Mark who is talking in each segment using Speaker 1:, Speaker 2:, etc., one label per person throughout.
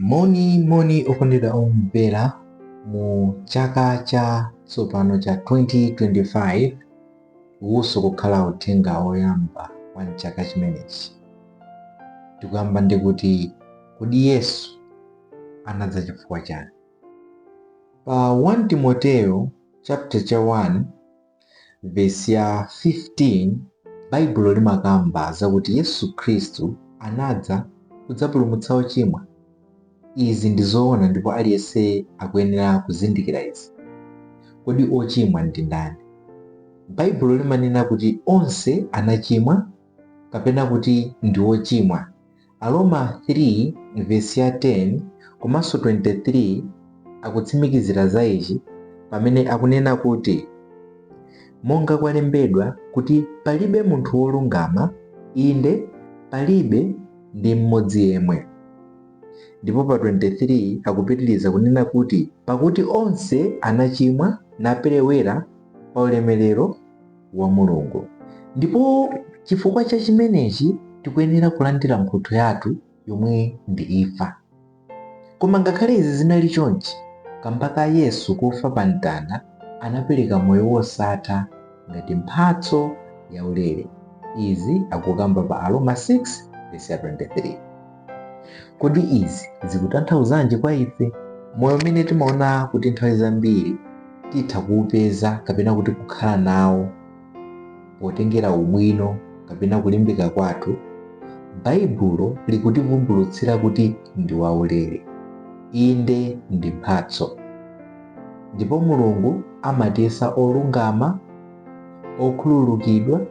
Speaker 1: Moni, moni okondedwa omvera mu chaka cha tsopano cha 2025 uwunso kukhala uthenga oyamba wa mchaka chimenechi tikuyamba ndi kuti kodi Yesu anadza chifukwa chani pa 1 Timoteo chapter cha 1 Vesi ya 15, Baibulo limakamba zakuti Yesu Khristu anadza kudzapulumutsa ochimwa. Izi ndi zoona ndipo aliyense akuyenera kuzindikira izi. Kodi ochimwa ndi ndani? Baibulo limanena kuti onse anachimwa kapena kuti ndi ochimwa Aroma 3 vesi ya 10 komanso 23 akutsimikizira za ichi pamene akunena kuti, Monga kwalembedwa kuti palibe munthu wolungama, inde, palibe ndi mmodzi yemwe. Ndipo pa 23 akupitiriza kunena kuti, Pakuti onse anachimwa naperewera pa ulemerero wa Mulungu. Ndipo chifukwa cha chimenechi tikuyenera kulandira mphotho yathu yomwe ndi imfa. Koma ngakhale izi zinali chonchi, kamba ka Yesu kufa pa mtanda anapereka moyo wosatha ngati mphatso yaulere. Izi akukamba pa Aroma 6:23. Kodi izi zikutanthauzanji kwa ife? Moyo umene timaona kuti nthawi zambiri titha kuupeza kapena kuti kukhala nawo potengera ubwino kapena kulimbika kwathu, Baibulo likutivumbulutsira kuti ndi waulere. Inde, ndi mphatso. Ndipo Mulungu amatiyesa olungama, okhululukidwa,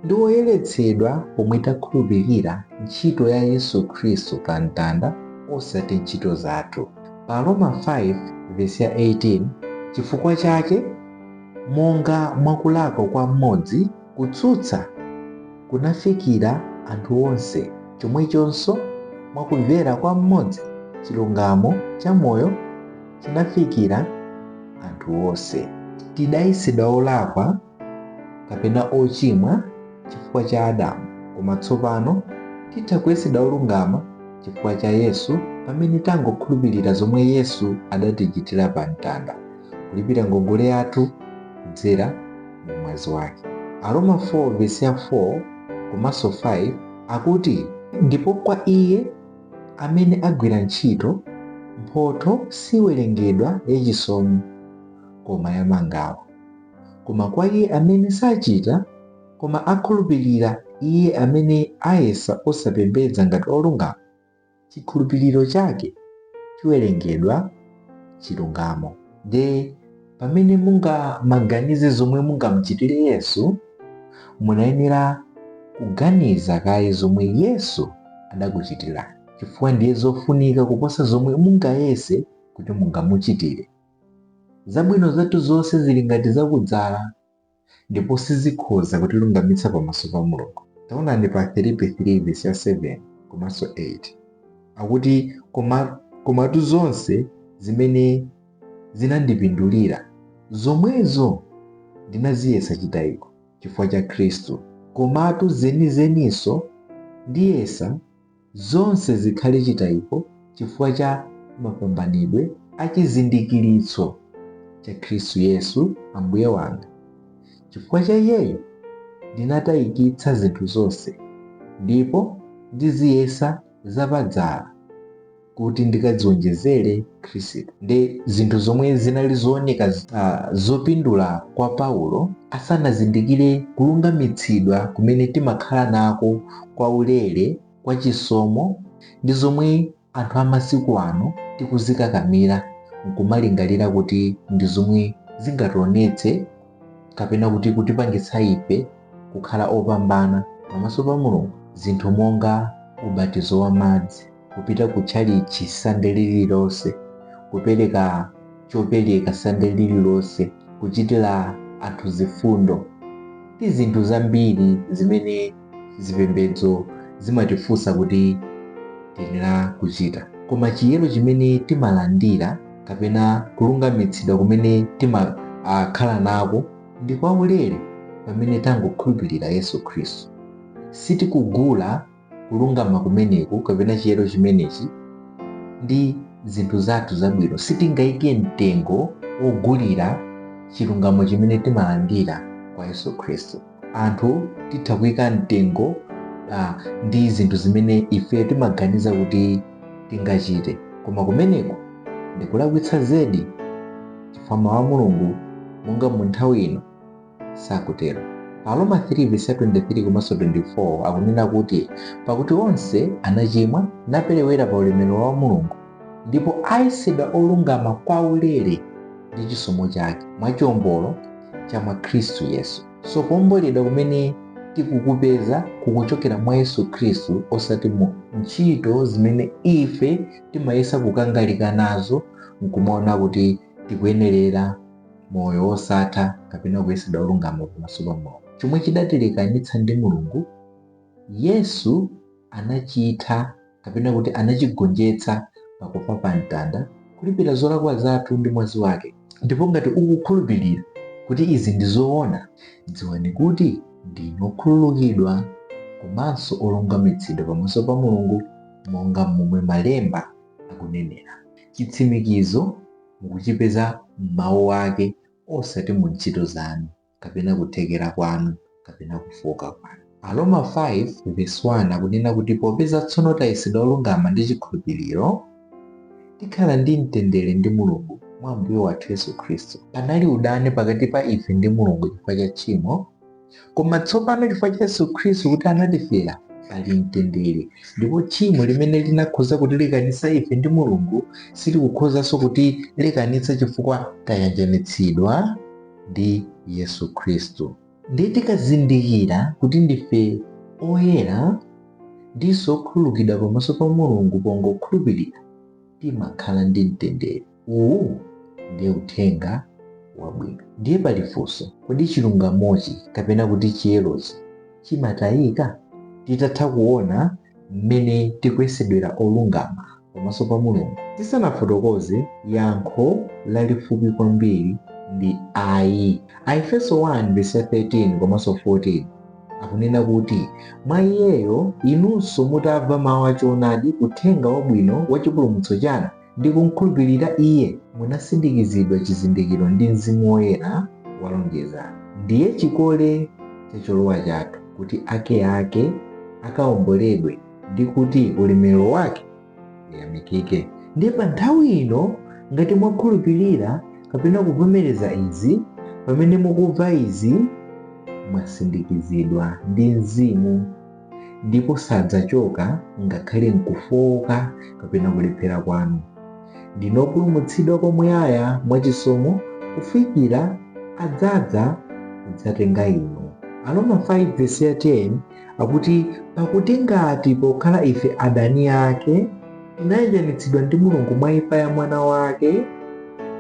Speaker 1: ndi oyeretsedwa pomwe takhulupirira ntchito ya Yesu Khristu pa mtanda osati ntchito zathu. Pa Aroma 5 vesi ya 18 chifukwa chake monga mwa kulakwa kwa mmodzi kutsutsa kunafikira anthu onse, chomwechonso mwa kumvera kwa mmodzi chilungamo cha moyo chinafikira anthu onse. Tidayesedwa olakwa kapena ochimwa chifukwa cha Adamu, koma tsopano titha kuyesedwa olungama chifukwa cha Yesu pamene tangokhulupirira zomwe Yesu adatichitira pa mtanda, kulipira ngongole yathu kudzera mu mwazi wake. Aroma 4 vesi ya 4 komanso 5 akuti, ndipo kwa iye amene agwira ntchito, mphotho siwerengedwa yachisomo, koma yamangawa. Koma kwa iye amene sachita, koma akhulupirira iye amene ayesa osapembedza ngati olungama, chikhulupiriro chake chiwerengedwa chilungamo. Nde pamene mungamaganize zomwe mungamuchitire Yesu, munayenera kuganiza kaye zomwe Yesu adakuchitirani, chifukwa ndiye zofunika kuposa zomwe mungayese kuti mungamuchitire. Zabwino zathu zonse zili ngati za kudzala ndipo sizikhoza kutilungamitsa pamaso pa Mulungu. Taonani pa Afilipi 3 vesi ya 7 komanso 8. Akuti komatu zonse zimene zinandipindulira, zomwezo ndinaziyesa chitayiko chifukwa cha Khristu. Komatu zenizeninso ndiyesa zonse zikhale chitayiko chifukwa cha mapambanidwe a chizindikiritso cha Khristu Yesu Ambuye wanga. Chifukwa cha iyeyo ndinatayikitsa zinthu zonse ndipo ndiziyesa zapadzala kuti ndikadziwonjezere Khristu. Nde zinthu zomwe zinali zooneka uh, zopindula kwa Paulo asanazindikire kulungamitsidwa kumene timakhala nako kwaulere, kwachisomo, ndi zomwe anthu a masiku ano tikuzikakamira n'kumalingalira kuti ndi zomwe zingationetse kapena kuti kutipangitsa ife kukhala opambana pamaso pa Mulungu, zinthu monga ubatizo wa madzi. kupita ku tchalichi sande lililonse kupereka chopereka sande lililonse kuchitira anthu zifundo ndi zinthu zambiri zimene zipembedzo zimatifunsa kuti tiyenera kuchita koma chiyero chimene timalandira kapena kulungamitsidwa kumene timakhala nako ndi kwaulere pamene tangokhulupirira yesu khristu sitikugula kulungama kumeneku kapena chiyero chimenechi ndi zinthu zathu zabwino sitingaike mtengo wogulira chilungamo chimene timalandira kwa yesu khristu anthu titha kuika mtengo uh, ndi zinthu zimene ife timaganiza kuti tingachite koma kumeneku ndikulakwitsa zedi chifukwa mawu a mulungu monga mu nthawi ino Sakutero. Pa Aroma 3 vesi 23 komanso 24 akunena kuti pakuti onse anachimwa naperewera pa ulemerero wa Mulungu ndipo ayesedwa olungama kwaulere ndi chisomo chake mwa chiombolo cha mwa Khristu Yesu. So kuomboledwa kumene tikukupeza kukuchokera mwa Yesu Khristu osati mu ntchito zimene ife timayesa kukangalika nazo nkumaona kuti tikuyenerera moyo wosatha kapena kuyesedwa olungama pamaso pa Mulungu. Chomwe chidatilekanitsa ndi Mulungu, Yesu anachitha kapena kuti anachigonjetsa pakufa pa mtanda, kulipira zolakwa zathu ndi mwazi wake. Ndipo ngati ukukhulupirira kuti izi ndi zoona, dziwani kuti ndinu okhululukidwa komanso olungamitsidwa pamaso pa Mulungu monga momwe malemba akunenera. Chitsimikizo mukuchipeza m'mawu ake osati mu ntchito zanu, kapena kuthekera kwanu, kapena kufooka kwanu. Aroma 5 vesi 1 akunena kuti popeza tsono tayesedwa olungama ndi chikhulupiriro, tikhala ndi mtendere ndi Mulungu mwa Ambuye wathu Yesu Khristu. Panali udani pakati pa ife ndi Mulungu chifukwa cha tchimo, koma tsopano chifukwa cha yesu khristu kuti anatifera pali mtendere ndipo tchimo limene linakhoza kutilekanitsa ife ndi mulungu silikukhozanso kutilekanitsa chifukwa tayanjanitsidwa ndi yesu khristu ndiye tikazindikira kuti ndife oyera ndiponso okhululukidwa pamaso pa mulungu pongokhulupirira timakhala ndi mtendere Uwu ndiye uthenga wabwino. Ndiye pali funso, kodi chilungamochi kapena kuti chiyerochi chimatayika? Titatha kuona mmene tikuyesedwera olungama pamaso pa Mulungu, tisanafotokoze yankho lalifupi kwambiri ndi ayi. Aefeso 1 vesi ya 13 komanso 14 akunena kuti, Mwa Iyeyo inunso mutamva mawu a choonadi, uthenga wabwino wa chipulumutso chanu, ndi kumkhulupirira iye munasindikizidwa chizindikiro ndi mzimu woyera wa lonjezano ndiye chikole cha cholowa chathu kuti ake ake akaomboledwe ndi kuti ulemerero wake uyamikike ndiye pa nthawi ino ngati mwakhulupirira kapena kuvomereza izi pamene mukumva izi mwasindikizidwa ndi mzimu ndipo sadzachoka ngakhale m'kufooka kapena kulephera kwanu ndinu opulumutsidwa kwa muyaya mwa chisomo kufikira adzadza kudzatenga inu aroma 5 vesi ya 10 akuti pakuti ngati pokhala ife adani ake tinayanjanitsidwa ndi mulungu mwa imfa ya mwana wake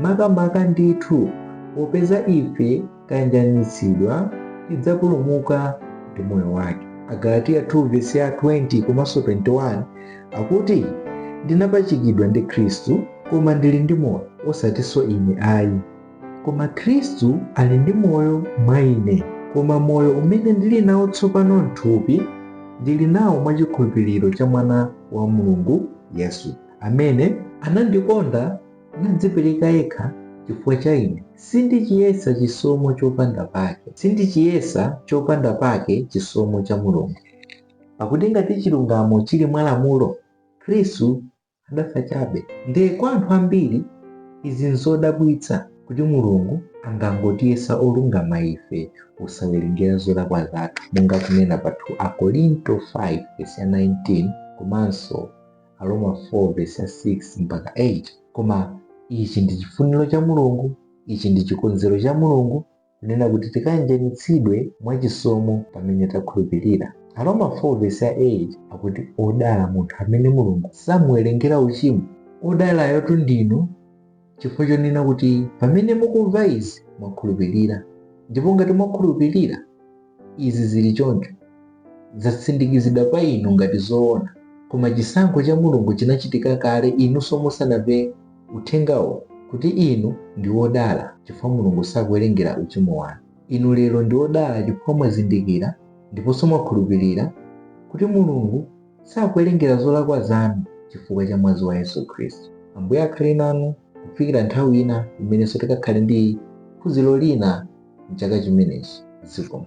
Speaker 1: makamaka ndithu popeza ife tayanjanitsidwa tidzapulumuka ndi moyo wake. Agalatiya 2 vesi ya 20 komanso 21 akuti ndinapachikidwa ndi Khristu koma ndili ndi moyo osatinso ine ayi koma Khristu ali ndi moyo mwa ine koma moyo umene ndili nawo tsopano m'thupi ndili nawo mwa chikhulupiriro cha mwana wa Mulungu Yesu amene anandikonda nadzipereka yekha chifukwa cha ine, sindichiyesa chopanda pake chisomo cha Mulungu. Pakuti ngati chilungamo chili mwa lamulo, Khristu adafa chabe. Ndiye kwa anthu ambiri izi nzodabwitsa, kuti Mulungu angangotiyesa olungama ife osawerengera zolakwa zathu, monga kunena pa 2 Akorinto 5 vesi ya 19 komanso Aroma 4 vesi ya 6 mpaka 8 koma ichi ndi chifuniro cha mulungu ichi ndi chikonzero cha mulungu kunena kuti tikayanjanitsidwe mwa chisomo pamene takhulupirira aroma 4 vesi ya 8 akuti odala munthu amene mulungu samuwerengera uchimo odalayotu ndinu chifukwa chonena kuti pamene mukumva izi mwakhulupirira. Ndipo ngati mwakhulupirira, izi zili choncho, zatsindikizidwa pa inu ngati zoona, koma chisankho cha Mulungu chinachitika kale inunso musanamve uthengawo kuti inu ndi wodala chifukwa Mulungu sakuwerengera uchimo wanu. Inu lero ndi odala chifukwa mwazindikira ndiponso mwakhulupirira kuti Mulungu sakuwerengera zolakwa zanu chifukwa cha mwazi wa Yesu Khristu. Ambuye akhale nanu kufikira nthawi ina imenenso tikakhale ndi phunziro lina m'chaka chimenechi. Zikomo.